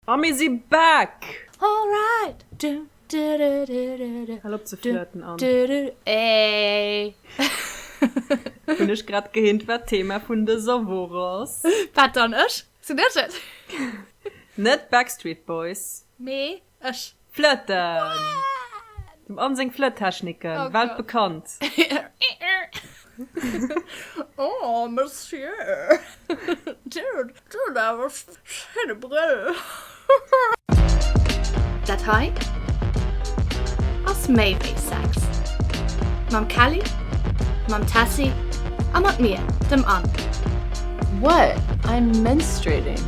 A mir si back! Alright! Du, du, du, du, du, du. Hal op ze Du, flirten, Anne. du, du, du. Ey! Hunn ech grad gehinnt, wat d'Thema vun dëser Woch ass. Wat dann? Ech? Sinn ech et? Net d'Backstreet Boys. Mee ech. Flëtten! Dem Anne seng Flëttechniken, weltbekannt! Oh, Monsieur! Dir hutt awer schéine Brëll! Dat hei ass méi wéi Sex. Mam Kelly, mam Tessy a mat mir, dem Anne. What? I'm menstruating!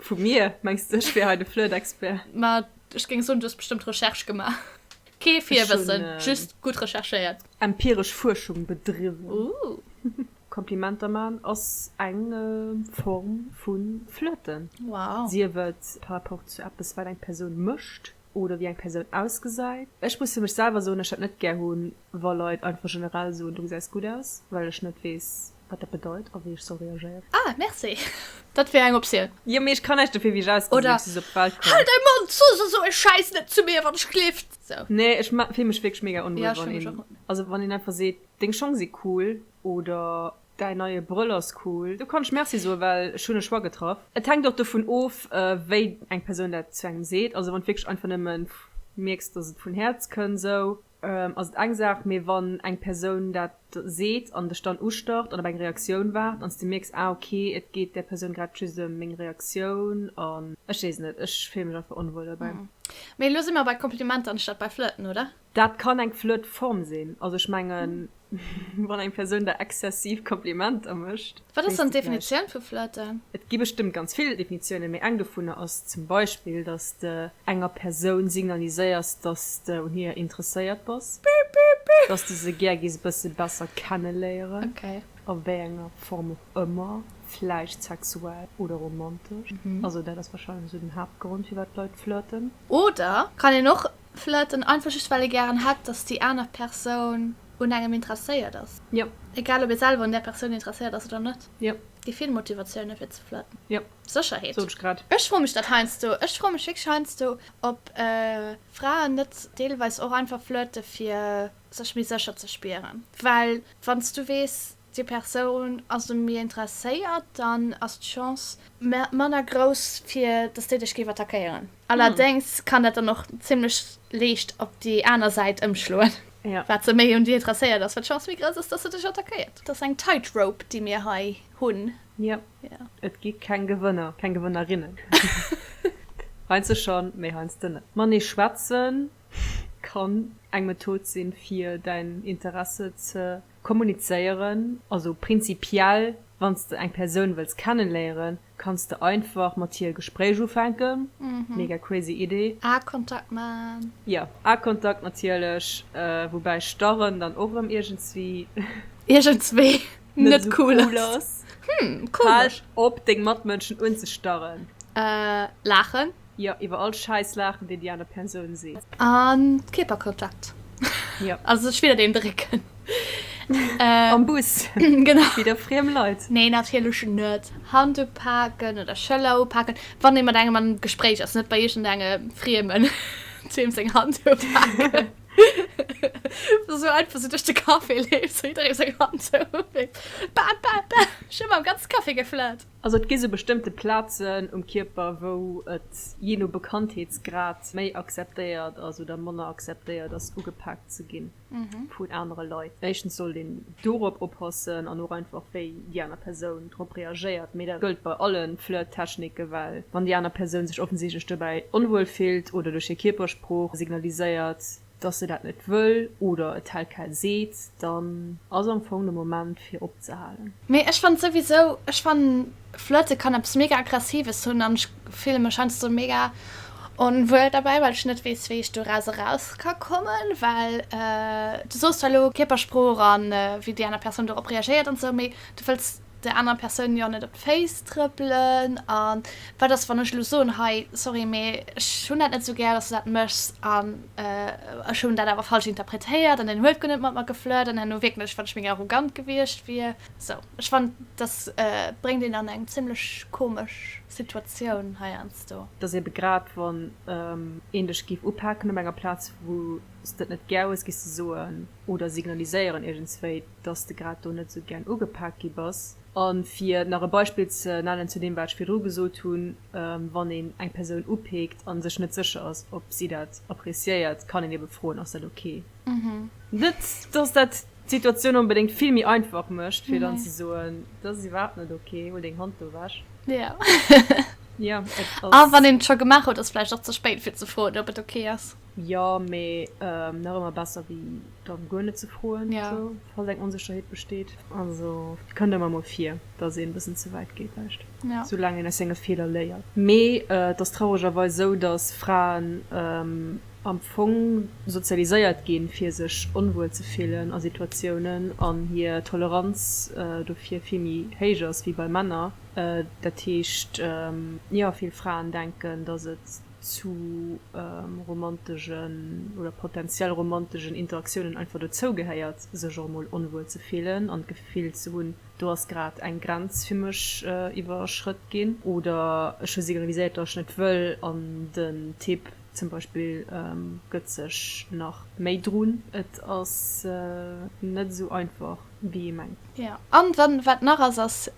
Vu mir? Mengs de ech wier hei de Flirt-Expert? Ma ech géing soen, du hues bestëmmt Recherche gemaach. Kee Virwëssen, just gutt recherchéiert. Empiresch Fuerschung bedriwwen. Ooh. Komplimenter man ass eng Form vu Flirten. Wow. Sief et par rapport zu eppes, wat eng Persoun mécht. oder wéi eng Persoun ausgesäit. Ech muss fir mech selwer soen, ech dat net gär hunn, wa Leit einfach generell soen, du gesäis gutt aus, well ech net weess, wat dat bedeit a wéi ech soll reagéieren. Ah, merci! Dat wär eng Optioun. Jo, mee ech kann näischt dofir, wéi ech ausgesinn, wéi ech op d'Welt komm. Halt däi Mond! Soss esou e Schäiss net zu mir, wann ech gleeft! Esou. Nee, ech fillen mech wierklech mega onwuel, wann een, also wann een einfach seet, deng Schong si cool oder. Däin neie Brëll ass cool. Do kann ech Merci soen, well ech hunn e Choix getraff. Et hänkt och dovun of, wéi eng Persoun dat zu engem seet. Also wann d'wierklech einfach nëmme mierks, dass et vun Häerz kënn, esou, ass et eng Saach. Mee wann eng Persoun dat seet an dech dann ustarrt an op eng Reaktioun waart an s de mierks, ah ok, et geet där Persoun grad just ëm meng Reaktioun an ech weess net, ech fille mech einfach onwuel derbäi. Mee elo si mer bei Komplimenter anstatt bei Flirten, oder? Dat kann eng flott Form sinn. Also ech mengen, wann eng Persoun der exzessiv Komplimenter mécht. Wat ass dann d'Definitioun vu flirten? Et gi bestëmmt ganz vill Definitiounen, mee eng dovunner ass zum Beispill, dass de enger Persoun signaliséiers, dass de un hir interesséiert bass, dass de se gär gees e bësse besser kenneléieren, a wéi enger Form och ëmmer, vläicht sexuell oder romantesch. Also dat ass warscheinlech esou den Haaptgrond, firwat d'Leit flirten. Oder kann een och Vläit en einfach just well ee gären hätt, datt déi aner Persoun un engem interesséiert ass. Jo. Egal ob ee selwer un där Persoun interesséiert ass oder net. Jo. Déi vill Motivatioune fir ze flirten. Jo. Sécherheet. Sot ech grad. Ech froe mech dat heiansdo. Ech froe mech wierklech heiansdo, ob Fraen net deelweis och einfach flirte fir sech méi sécher ze spieren. Well wann s du weess, Déi Persoun ass u mir interesséiert, dann ass d'Chance. Manner grouss, fir dass déi dech géif attackéieren. Allerdéngs kann dat dann och zimmlech leescht op déi aner Säit ëmschloen. Wat se méi un dir interesséiert ass, wat d'Chance méi grouss ass, dass se dech attackéiert. Et ass eng Tightrope, déi mir hei hunn. Jo, et gi keng Gewënner, keng Gewënnerinnen. Heiansdo schonn, mee heiansdo net. Matenee schwätzen kann eng Method sinn, fir däin Interesse ze. Kommunizéieren, also prinzipiell wann s de eng Persoun wëlls kennenléieren, kanns de einfach mat hir e Gespréich ufänken. Mega crazy Idee. Eye-Kontakt maan. Jo, Eye-Kontakt natierlech, woubäi starren dann och erëm iergendswéi. Iergendswéi net cool ass. Hm, komesch. Hal op deng Matmënschen unzestarren. Laachen. Jo, iwwer all Schäiss laachen, deen déi aner Persoun seet. An Kierperkontakt. Jo. Also sech widder deen drécken. Am Bus. Genau. Widder friem Leit. Nee, natierlech net. Hand upaken oder Schëller upaken, wann ee mat engem am Gespréich ass. Net bei iergendenge Friemen, deem seng Hand upaken. Esou einfach sou duerch de Café leeft, sou jidderee seng Hand zou uleet. Ba, ba, ba, ech hunn mam ganze Café geflirt. Also et gi sou bestëmmte Plazen um Kierper, wou et jee no Bekanntheetsgrad méi akzeptéiert ass oder manner akzeptéiert ass, ugepaakt ze ginn vun anere Leit. Éischtens sollt een dorop oppassen an och einfach, wéi déi aner Persoun drop reagéiert. Mee dat gëllt bei alle Flirt-Techniken, well wann déi aner Persoun sech offensichtlech dobäi onwuel fillt oder duerch hir Kierpersprooch signaliséiert, dass se dat net wëll oder et hält kär seet, dann ass am Fong de Moment fir opzehalen. Mee ech fannen souwisou, ech fannen Flirte kann eppes mega aggressives hunn an ech fille mech heiansdo mega onwuel derbäi, well ech net weess wéi ech do eraus eraus ka kommen, well du soos zwar elo Kierpersprooch an wéi déi aner Persoun dorop reagéiert an esou, mee du wëlls der aner Persoun jo net op d'Féiss trëppelen an wat ass wann ech elo soen, hei sorry mee ech hunn dat net sou gär dass du dat méchs an ech hunn dat awer falsch interpretéiert an deen huet guer net mat mer geflirt an herno wierkt ech wann ech méi arrogant gewiescht wier. Sou ech fannt dass bréngt een an eng zimlech komesch Situatioun heiansdo. Dass ebe grad wann een dech géif upaken op enger Plaz wou s de et net gär hues, géifs de soen oder signaliséieren iergendswéi, dass de grad do net esou gären ugepaakt gi bass. A fir nach e Beispill ze nennen zu deem, wat ech virdru gesot hunn, Wann een eng Persoun upeekt a sech net sécher ass, ob si dat appreciéiert, kann een ebe froen, Ass dat ok? Net, dass dat d'Situatioun onbedéngt vill méi einfach mécht, fir dann ze soen, Dat ass iwwerhaapt net ok, huel deng Hand do ewech. A wann een et scho gemaach huet, ass et vläicht och ze spéit, fir ze froen, ob et ok ass. Jo, mee nach ëmmer besser wéi dann guer net ze froen, falls eng Onsécherheet besteet. Also et kënnt ëmmer mol vir, dass een e bëssen ze wäit geet, däischt soulaang een aus senge Feeler léiert. Mee et ass trauregerweis esou, dass Fraen am Fong sozialiséiert ginn, fir sech onwuel ze fillen a Situatiounen an hir Toleranz dofir vill méi héich ass wéi bei Männer. Dat heescht, jo, vill Fraen denken, dass et. zu romantegen oder potentiell romantegen Interaktiounen einfach dozou gehéiert, sech och emol onwuel ze fillen an d'Gefill ze hunn, do ass grad eng Grenz fir mech iwwerschrëtt ginn oder ech hu signaliséiert, datt ech net wëll an den Typ zum Beispill gëtt sech nach méi drun. Et ass net esou einfach, wéi ee mengt. An dann, wat nach ass, ass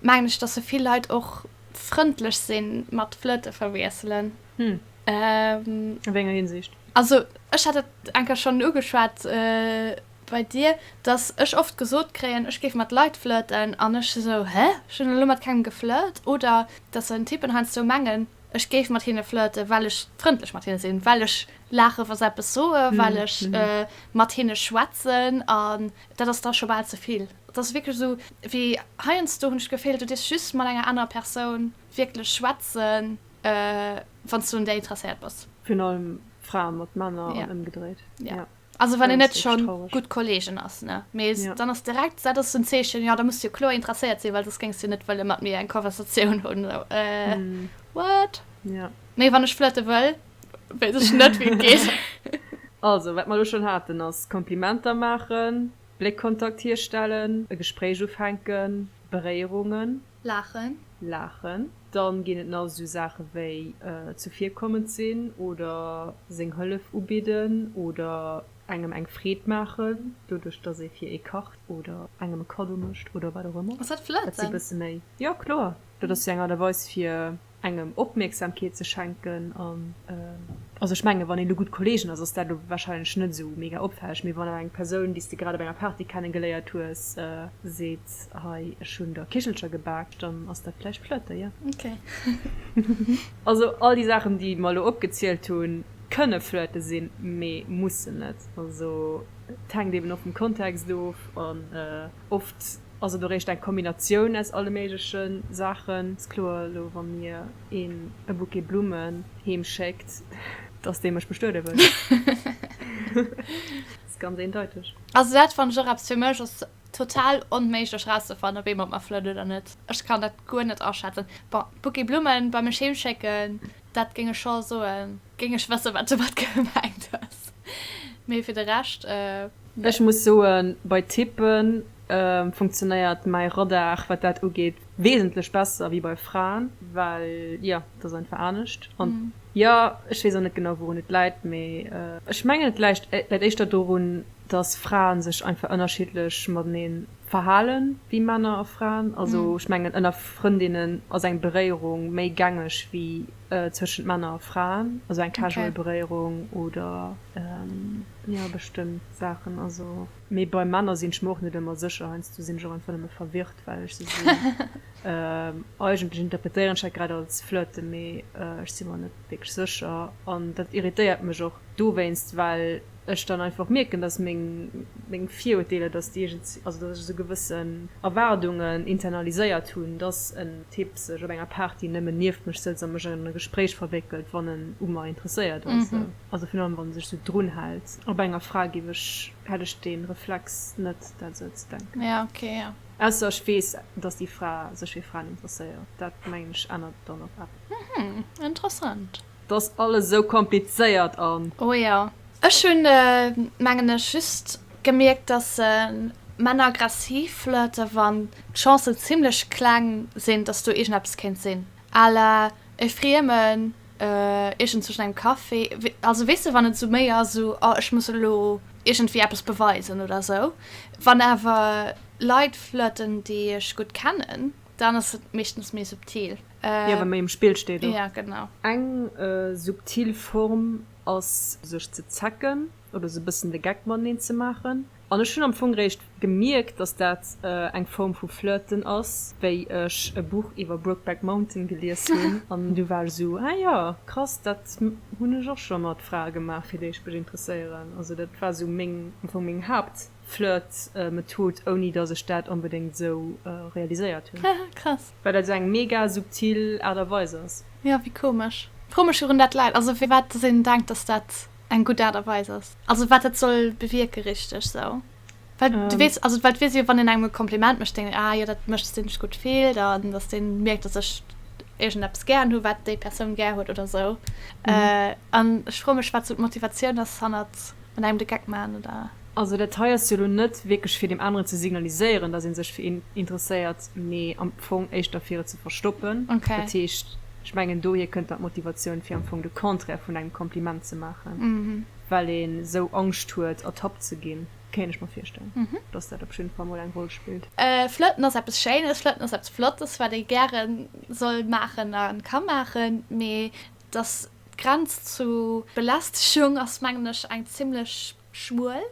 mengen ech, datt se vill Leit och frëndlech sinn mat flirte verwiesselen. Hm. Ähm. A wéi enger Hinsicht? Also ech hat et eng Kéier schonn ugeschwat bei dir, dass ech oft gesot kréien, ech géif mat Leit flirten an ech esou, hä, ech hunn elo mat kengem geflirt. Oder dass dann Typen heiansdo mengen, ech géif mat hinne flirten, well ech frëndlech mat hinne sinn, well ech laachen, wa se eppes soen, well ech mat hinne schwätzen. An dat ass da scho bal ze vill. Et ass wierklech esou, wéi heiansdo hunn ech d'Geféhl, du dierfs just mat enger anerer Persoun wierklech schwätzen, wann s du un där interesséiert bass. Virun allem Frae mat Männer an ëmgedréit. Jo, also wann een net scho gutt Kolleegen ass, ne? Mee dann ass direkt, dat ass esou en Zeechen, jo, da muss s du jo kloer interesséiert sinn, well soss géings du net wëlle mat mir eng Conversatioun hunn. What? Mee wann ech flirte wëll, weess ech net, wéi et geet. Also, wat mer elo schonn haten, ass Komplimenter maachen. Bléckkontakt hierstellen. E Gespréich ufänken. Beréierungen. Laachen. Laachen. Dann ginn et nach esou Saache wéi zuvirkommend sinn oder seng Hëllef ubidden oder engem eng Freed maachen, doduerch dass ee fir ee kacht oder engem e Kaddo mécht oder wat och ëmmer. Ass dat flirten? Dat si bësse méi. Jo, kloer. Dat ass jo eng Aart a Weis fir. engem Opmierksamkeet ze schenken an also ech mengen wann een do gutt Kollegen ass, ass dat elo wahrscheinlech net esou mega opfälleg, mee wann awer eng Persoun déi s de grad op enger Party kenne geléiert hues seet hei ech hunn der Kichelcher gebak dann ass dat vläicht Flirte jo. Ok. Also all déi Saachen déi mer elo opgezielt hunn kënne Flirte sinn, mee mussen net. Also et hänkt eeben och vum Kontext of an. Oft ass et och eréischt eng Kombinatioun aus alle méigleche Saachen. Ass kloer elo, wa mir een e Bouquet Blummen heem schéckt, dass dee mech bestuede wëll. Ass ganz eendeiteg. Also dat fannen ech och eppes. Fir mech ass total onméiglech rauszefannen, ob ee mat mer flirtt oder net. Ech kann dat guer net aschätzen. Bon, Bouquet Blummen bei mech heem schécken, dat géing ech scho soen. Géing ech wësse wat domat gemengt ass, mee fir de Rescht. Ech muss soen, bei Typen funktionéiert mäi Radar wat dat ugeet wesentlech besser wéi bei Fraen, well jo, et ass einfach anescht. An jo, ech weess och net genau wourun et läit, mee ech mengen et läit éischter dorun, datt Frae sech einfach ënnerschiddlech matenee verhalen wéi Männer a Fraen. Also ech mengen ënner Frëndinnen ass eng Beréierung méi gängeg wéi Zwëschent Männer a Fraen, also eng casual Beréierung oder jo bestëmmt Saachen, also mee bei Männer sinn ech mer och net ëmmer sécher, heiansdo sinn ech och einfach nëmme verwirrt well ech se sinn. Eigentlech interpretéieren ech dat grad als Flirte mee ech si mer net wierklech sécher an dat irritéiert mech och dowéinst, well. ech dann einfach mierken, dass meng, meng Virurteeler, dass déi iergend, also dass ech esou gewëssen Erwaardungen internaliséiert hunn, dass en Typ sech op enger Party nëmmen nieft mech sëtzt a mech an e Gespréich verwéckelt, wann en u mer interesséiert ass, also virun allem wann e sech esou drun hält. Op enger Fra géif ech, hätt ech dee Reflex net, dat esou ze denken. Ausser ech weess, dass déi Fra sech fir Fraen interesséiert, dat mengen ech ännert dann och eppes. Interessant. T'ass alles esou komplizéiert an. Oh jo. Ech hunn, mengen ech, just gemierkt, dass Männer aggressiv flirten, wann d'Chancen zimmlech kleng sinn, dass do iergendeppes kéint sinn, à la e Friemen iergendzwëschen engem Café, also weess de, wann et esou méi ass, esou oh ech muss elo iergendwéi eppes beweisen oder esou. Wann awer Leit flirten, déi ech gutt kennen. Dann ass et meeschtens méi subtil. Jo, wa méi um Spill steet och. Jo, genau. Eng subtil Form ass sech ze zecken oder sou e bëssen de Geck mateneen ze maachen. An ech hunn am Fong réischt gemierkt, dass dat eng Form vu Flirten ass, wéi ech e Buch iwwer Brokeback Mountain gelies hunn an du war ech esou, ah jo, krass, dat hunn ech och scho mat Frae gemaach, fir déi ech mech interesséieren. Also dat war esou meng, am Fong meng Haapt. Flirt-Method, ouni dass ech dat onbedéngt esou realiséiert hunn. Haha, krass. Well dat esou eng mega subtil Aart a Weis ass. Jo, wéi komesch. Frou mech virun dat läit. Also firwat dass een denkt dass dat eng gutt Aart a Weis ass. Also wat dat soll bewierke richteg esou. Well du weess, also well du weess jo wann een engem e Kompliment mécht, denkt een ah jo dat mécht dass dee sech gutt fillt an dass dee mierkt dass ech iergendeppes gären hu wat déi Persoun gär huet oder esou. An ech froe mech wat esou d'Motivatioun ass hannert. mat engem de Geck maachen oder? Also dat hei ass jo lo net wierklech fir deem aneren ze signaliséieren, dass ee sech fir een interesséiert, mee am Fong éischter fir et ze verstoppen. Dat heescht, ech mengen dohier kënnt dann d'Motivatioun fir am Fong de Contraire vun engem Kompliment ze maachen, well ee sou Angscht huet ertappt ze ginn. Kéint ech mer virstellen, dass dat op jidde Fall mol eng Roll spillt. Flirten ass eppes Schéines, Flirten ass eppes Flottes, wat ee gäre soll maachen a ka maachen, mee Dass d'Grenz zu Belästegung ass mengen ech eng zimmlech schmuel.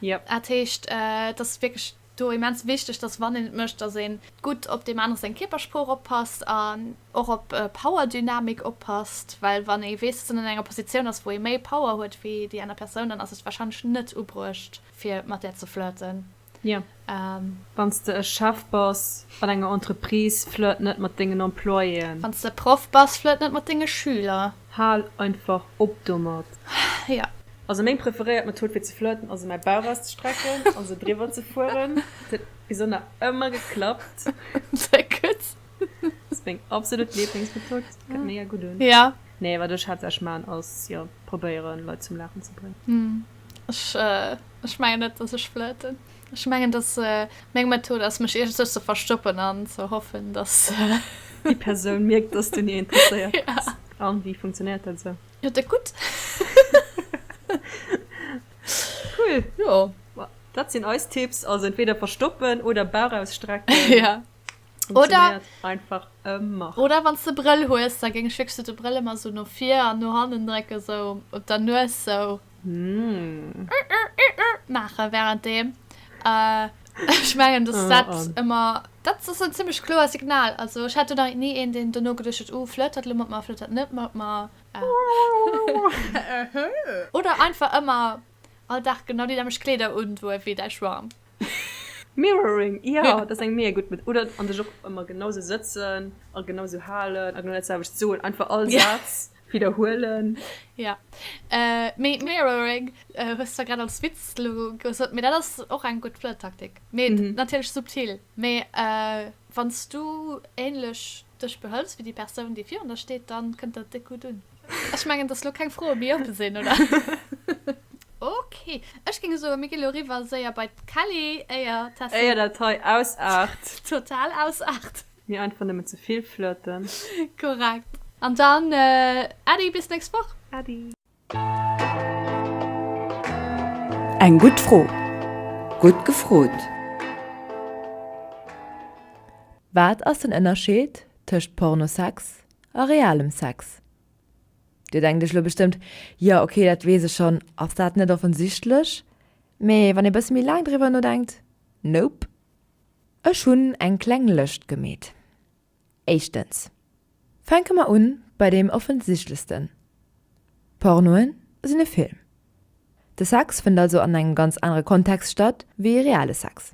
Dat heescht, et ass wierklech do immens wichteg, dass wann een et mécht, dass ee gutt op deem anere seng Kierpersprooch oppasst an och op Powerdynamik oppasst. Well wann ee weess, dass een an enger Positioun ass, wou ee méi Power huet wéi déi aner Persoun, dann ass et warscheinlech net ubruecht fir mat där ze flirten. Wann s de e Chef bass an enger Entreprise, flirt net mat dengen Employéen. Wann s de e Proff bass, flirt net mat denge Schüler. Hal einfach op domat. Also meng preferéiert Method fir ze flirten ass, mäi Bauch auszestrecken a sou driwwer ze fueren. Et huet bis ënner ëmmer geklappt. Sehr gut. Ass meng absolut Lieblingsmethod, kënnt mega gutt un. Nee, wat ech haaptsächlech maachen ass, jo, probéieren, Leit zum Laachen ze bréngen. Ech, ech mengen net, dass ech flirten. Ech mengen, dass meng Method ass, mech iergendsouch ze verstoppen an ze hoffen, dass déi Persoun mierkt, dass du un hir interesséiert bass. Ja. A wéi funktionéiert dat esou? Jo, da gutt. Cool. Jo. Dat sinn eis Tipps, also entweder verstoppen oder Bauch ausstrecken. Ja. Oder, einfach ëmmer. Oder wann du Brëll hues, da géng ech wierklech de Brëll ëmmer sou no vir an no hannen drécken, sou op der Nues sou mm. ur, ur, ur, ur, maachen während dem. Äh, ech mengen, dass oh, dat oh. ëmmer dat ass en ziemlech kloer Signal. Also ech hat nach nie een, den dono geduercht huet, oh, flëttert lo mat mer, flëttert net mat mer. Äh. Oder einfach ëmmer all Dag genau déi nämlech Kleeder un, wou e wéi däi Schwarm. Mirroring, jo, dat ass eng mega gutt Method. Oder an dech och ëmmer genau esou sëtzen a genau esou halen a genau dat selwecht soen. Einfach all Saz widderhuelen. Jo, mee Mirroring hues du zwar grad als Witz elo gesot, mee dat ass och eng gutt Flirttaktik. Mee natierlech subtil. Mee wann s du änlech dech behëls wéi déi Persoun, déi virun der steet, da kënnt dat déck gutt un. Ech mengen dass lo keng Froe méi oppe sinn, oder? Okay, ech géing soen, mir gi lo eriwwer séier bei d'Kelly, éier d'Tessie. Éier dat hei ausaart. Total ausaart. Mir einfach nëmmen ze vill flirten. Korrekt. An dann, Äddi, bis d'nächst Woch. Äddi. Eng gutt Fro, gutt gefrot! Wat ass den Ënnerscheed tëscht Pornosex A realem Sex? Dir denkt iech elo bestëmmt, Jo, ok, dat weess ech schonn, ass dat net offensichtlech? Mee wann ee bësse méi laang driwwer nodenkt, Nope. Ech hunn eng kleng Lëscht gemeet. Éischtens, fänke mer un bei deem offensichtlechsten, Pornoe sinn e Film. De Sex fënnt also an engem ganz anere Kontext statt wéi reale Sex.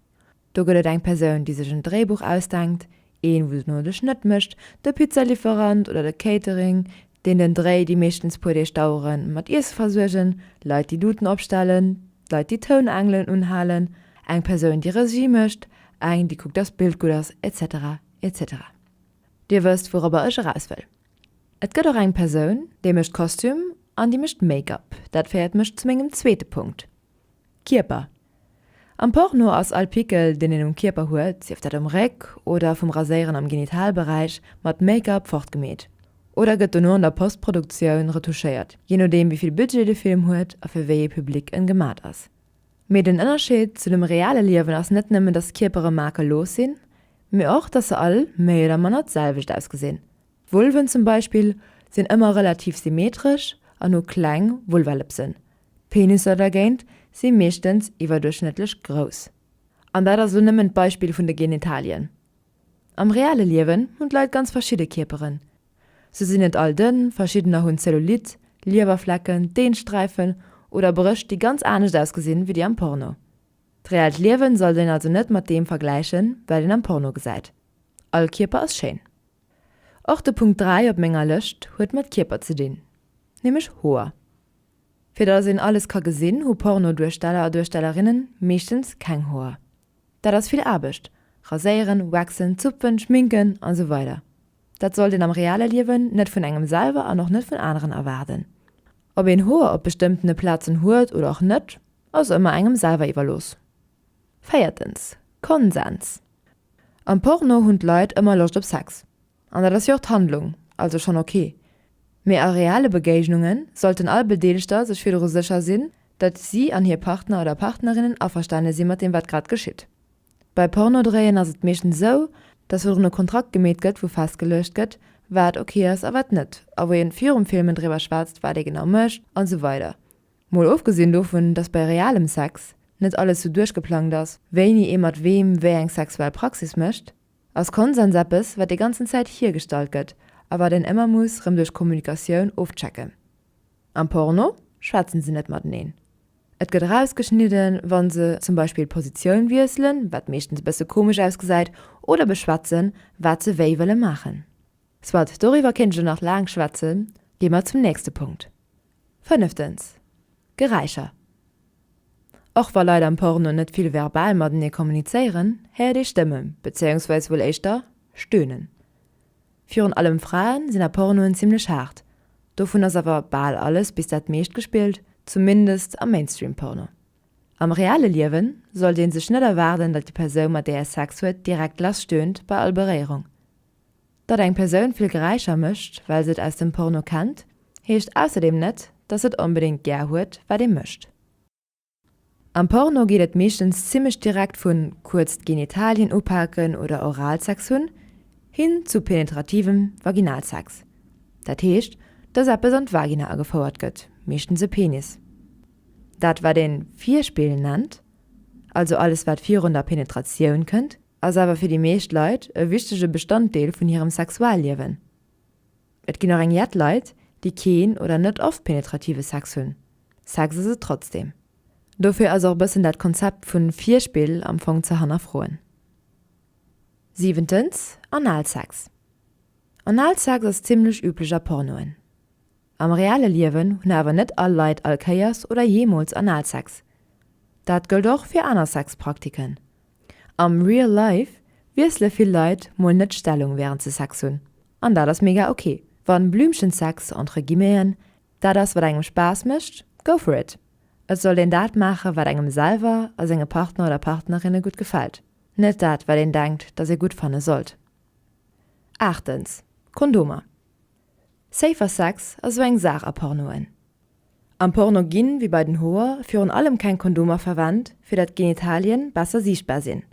Do gëtt et eng Persoun, déi sech en Dréibuch ausdenkt, een, wou se den Nodeg net mécht, de Pizzalieferant oder de Catering, deen den Dréi, déi meeschtens puer Deeg daueren, mat Iesse versuergen, Leit, déi Duten opstellen, Leit, déi Tounengelen unhalen, eng Persoun, déi Regie mécht, eng, déi kuckt, dass d'Bild gutt ass, etc. Etc. Dir wësst, wourobber ech eraus wëll. Et gëtt och eng Persoun, déi mécht Kostüm an déi mécht Make-up. Dat féiert mech zu mengem zweete Punkt. Kierper, Am Porno ass all Pickel, deen een um Kierper huet, sief dat um Réck oder vum Raséieren am Genitalberäich, mat Make-up fortgemeet oder gëtt dono an der Postproduktioun retouchéiert, jee nodeem wéi vill Budget de Film huet a fir wéi ee Public en gemat ass. Mee den Ënnerscheed zu dem reale Liewen ass net nëmmen, dass Kierpere makellos sinn, mee och, dass se all méi oder manner d'selwecht ausgesinn. Vulven zum Beispill sinn ëmmer relativ symmetresch an hu kleng Vulvalëpsen, D'Penisser dergéint si meeschtens iwwerduerchschnëttlech grouss. An dat ass elo nëmmen d'Beispill vun de Genitalien. Am reale Liewen hunn d'Leit ganz verschidde Kierperen. Se sinn net all dënn, verschiddener hunn Cellulite, Liewerflecken, Deensträifen oder Brëscht déi ganz anescht ausgesinn wéi déi am Porno. D'reellt Liewen sollt een also net mat deem vergläichen wat een am Porno gesäit. All Kierper ass schéin. Och de Punkt 3 op menger Lëscht huet mat Kierper ze dinn, nämlech Hoer. Fir datt een alles ka gesinn, hu Pornoduersteller a duerstellerinnen meeschtens keng Hoer. Dat ass vill Aarbecht, raséieren, waxen, zupfen, schminken a sou weider. Dat sollt een am reale Liewen net vun engem selwer an och net vun aneren erwaarden. Ob een Hoer op bestëmmtene Plazen huet oder och net, ass ëmmer engem selwer iwwerlooss. Véiertens, Konsens. Am Porno hunn d'Leit ëmmer Loscht op Sex. An dat ass jo och d'Handlung, also schonn ok. Mee a reale Begéignunge sollten all Bedeelegter sech virdru sécher sinn, datt si an hir Partner oder Partnerinnen averstane si mat deem, wat grad geschitt. Bei Pornodréien ass et meeschtens esou, datt virdrun e Kontrakt gemeet gëtt, wou festgeluecht gëtt, wat ok ass a wat net, a wou ee virum Filmen driwwer schwätzt, wat ee genau mécht an esou weider. Mol ofgesinn dovun, datt bei realem Sex net alles sou duerchgeplangt ass, wéini ee mat weem wéi eng sexuell Praxis mécht. Ass Konsens eppes, wat déi ganzen Zäit hiergestallt gëtt a wat een ëmmer muss rëm duerch Kommunikatioun ofchecken? Am Porno schwätzen se net mateneen. Et gëtt erausgeschnidden, wa se zum Beispill d'Positioun wiesselen, wat meeschtens e bësse komesch ausgesäit, oder beschwätzen, wat se wéi wëlle maachen. Soit, doriwwer kéint ech elo nach laang schwätzen. Gi mer zum nächste Punkt. Fënneftens, Geräischer. Och wa Leit am Porno net vill verbal matenee kommunizéieren, héiert ee Stëmmen, bezéiungsweis wuel éischter Stöhnen. Virun allem Frae sinn a Pornoen zimmlech haart, dovun ass awer bal alles bis dat meescht gespillt, zumindest am Mainstream-Porno. Am reale Liewe sollt ee sech net erwaarden, datt déi Persoun, mat där ee Sex huet, direkt lass stöhnt bei all Beréierung. Datt eng Persoun vill Geräischer mécht, well se et aus dem Porno kennt, heescht ausserdeem net, datt se et onbedéngt gär huet, wat ee mécht. Am Porno geet et meeschtens zimmlech direkt vu kuerz d'Genitalien upaken oder Oralsex hunn, hin zu penetrativem Vaginalsex. Dat heescht, datt eppes an d'Vagina agefouert gëtt, meeschtens e Penis. Dat, wat ee Virspill nennt, also alles wat virun der Penetratioun kënnt, ass awer fir déi meescht Leit e wichtege Bestanddeel vun hirem Sexualliewen. Et ginn och eng jett Leit, déi keen oder net oft penetrative Sex hunn, Sex ass et trotzdeem. Dofir ass och e bëssen dat Konzept vu Virspill am Fong ze hannerfroen. Siwentens, Analsex. Analsex ass zimmlech üblech a Pornoen. Am reelle Liewen hunn awer net all Leit all Kéiers oder jeemools Analsex. Dat gëllt och fir aner Sexpraktiken. Am real life wiessele vill Leit mol net d'Stellung wärend se Sex hunn. An dat ass mega ok. Wann Blümchensex entre guillemeten dat ass wat engem Spaass mécht, go for it. Et sollt een dat maache wat engem selwer a senge Partner oder Partnerinne gutt gefält, net dat wat een denkt, datt ee gutt fanne sollt. Aachtens, Kondomer. Safer Sex ass sou eng Saach a Pornoen. Am Porno ginn, wéi bei den Hoer, virun allem keng Kondomer verwennt, fir dat d'Genitalien besser siichtbar sinn.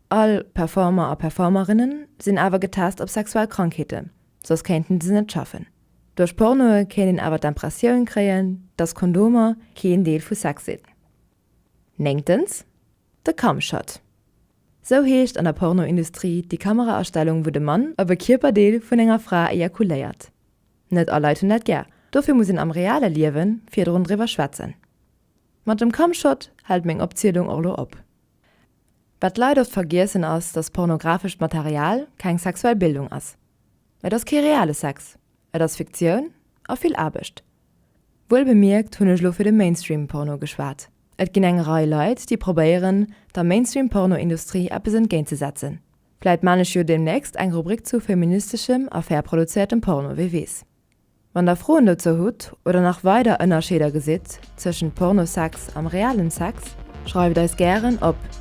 All Performer a Performerinnen sinn awer getest op sexuell Krankheeten, soss kéinten se net schaffen. Duerch Pornoe kéint een awer d'Empressioun kréien, dass Kondomer keen Deel vu Sex sinn. Néngtens, de Cumshot. Sou heescht an der Pornoindustrie déi Kameraastellung wou de Mann op e Kierperdeel vun enger Fra ejakuléiert. Net all Leit hunn dat gär, dofir muss een am reale Liewen virdrun driwwer schwätzen. Mat dem Cumshot hält meng Opzielung och lo op. Wat d'Leit oft vergiessen ass dass pornografescht Material keng sexuell Bildung ass. Et ass kee reale Sex, et ass Fiktioun a vill Aarbecht. Wuelbemierkt hunn ech lo fir de Mainstream Porno geschwat. Et ginn eng Rei Leit, déi probéieren, der Mainstream-Porno-Industrie eppes entgéintzesetzen. Vläit maan ech jo deemnächst eng Rubrik zu feministeschem a fair produzéiertem Porno, wee weess. Wann der Froen dozou hutt oder nach weider Ënnerscheeder gesitt zwëschent Porno-Sex am realen Sex, schreift eis gären op.